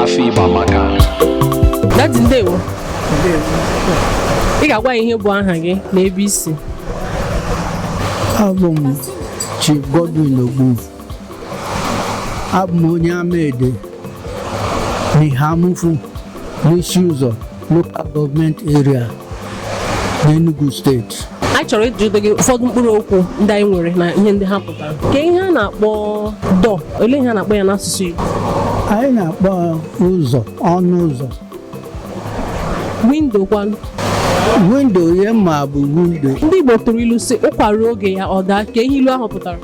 afọ igbo amaka Dadi ndewo ị ga-agwa anyị ihe bụ aha gị na ebe i si abụ m Chief Godwin Ogbunze abụ m onye Amaede Eha-Amufu n'Isi-Ụzọ local gọọmenti area n'Enugu steeti anyị chọrọ ịjụtụ gị ụfọdụ mkpụrụ okwu ndị anyị nwere na ihe ndị ha pụtara kee ihe a na-akpọ door olee ihe a na-akpọ ya n'asụsụ Igbo anyị na-akpọ ụzọ ọnụ ụzọ windo kwanụ windo ihe m ma bụ windo ndị Igbo tụrụ ilu sị ụkwa ruo oge ya ọ daa kee ihe ilu ahụ pụtara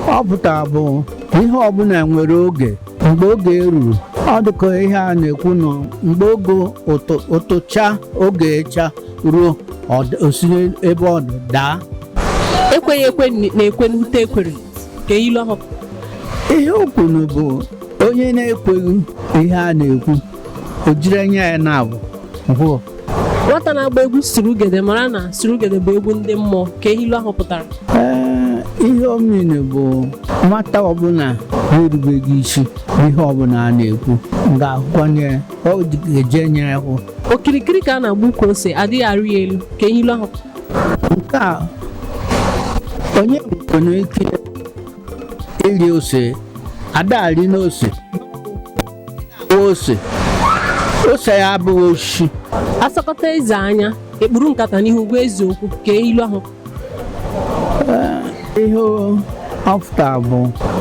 ọ pụtara bụ ihe ọbụla nwere oge mgbe oge ruru ọ dịka ihe a na-ekwunụ mgbe oge ụtụ- ụtụcha oge ịcha ruo ọ d- o si ebe ọ dị daa ekweghị ekwe na-ekwe n'ute ekwere kee ihe ilu ahụ ihe o kwuru bụ onye na-ekweghị ihe a na-ekwu o jiri anya ya naabọ hụọ nwata na-agba egwu surugede mara na surugede bụ egwu ndị mmụọ kee ihe ilu ahụ pụtara Ee, ihe ọ mean bụ nwata ọbụla na-erubeghị isi ihe ọbụla a na-ekwu ga-ahụkwanụ ọ ga-eji anya ya hụ okirikiri ka a na-agba ukwu ose adịghị arị ya elu kee ihe ilu ahụ nke a onye nwere ike ịrị ose ada arị n'ose ose ose ya abụghị osisi a sọkata eze anya e kpuru nkata n'ihu gwa eze okwu kee ihe ilu ahụ ihe ọ fụta bụ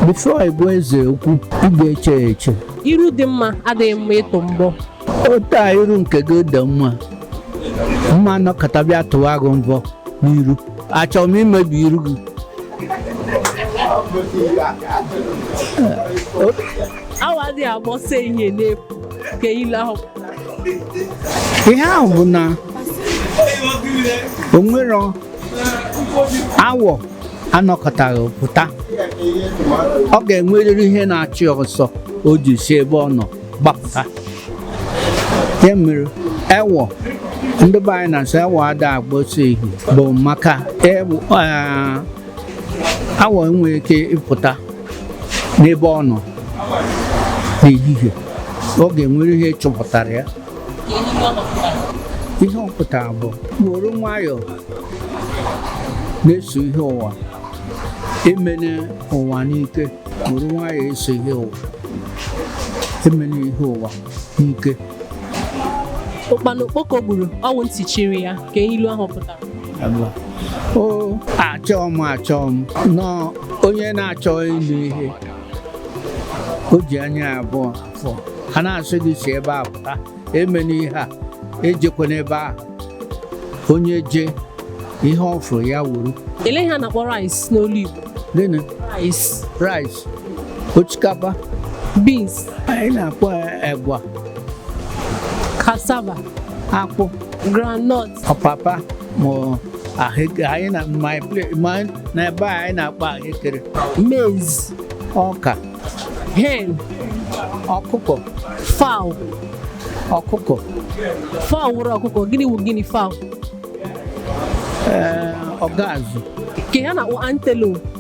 before ị gwa eze okwu ị ga-eche ya eche iru dị mma adịghị mma ịtụ mbọ otu a iru nke gị dị mma ma m nọkata bịa tụwa gị mbọ n'iru achọrọ m imebi iru gị awọ adịghị agba ọsọ ehihie n'efu kee ihe ilu ahụ ihe ahụ bụ na o nwere awọ anọkataghị pụta ọ ga-enwerịrị ihe na-achụ ya ọsọ o ji si ebe ọ nọ gbapụta ya mere ewọ ndị be anyị na-asị ewọ ada agba ọsọ ehihie bụ maka ewọ, eh, awọ enweghị ike ịpụta n'ebe ọ nọ n'ehihie ọ ga-enwere ihe chụpụtara ya ihe ọ pụtara bụ were nwayọọ na-eso ihe ụwa emene ụwa n'ike were nwayọọ eso ihe ụwa emene ihe ụwa n'ike ụkpana okpoko gburu ọnwụ ntị chiri ya ka ihe ilu ahụ pụtara o achọọ m achọọ m na onye na-achọ ịnụ ihe o ji anya abụọ afụ a na-asị gị si ebe a pụta emena ihe a ejekwana ebe ahụ onye jee ihe ọ fụrụ ya wuru Ele ihe a na-akpọ rice n'olu Igbo. gịnị Rice, rice osikapa beans, anyị na-akpọ ya egwa cassava. akpụ groundnut ọpapa ma ahụekere anyị na my place ma na ebe a anyị na-akpọ ahụekere maize ọka hen ọkụkọ fowl ọkụkọ fowl wụrụ ọkụkọ gịnị wụ guinea fowl ee ọgazụ ka ha na-akpọ antelope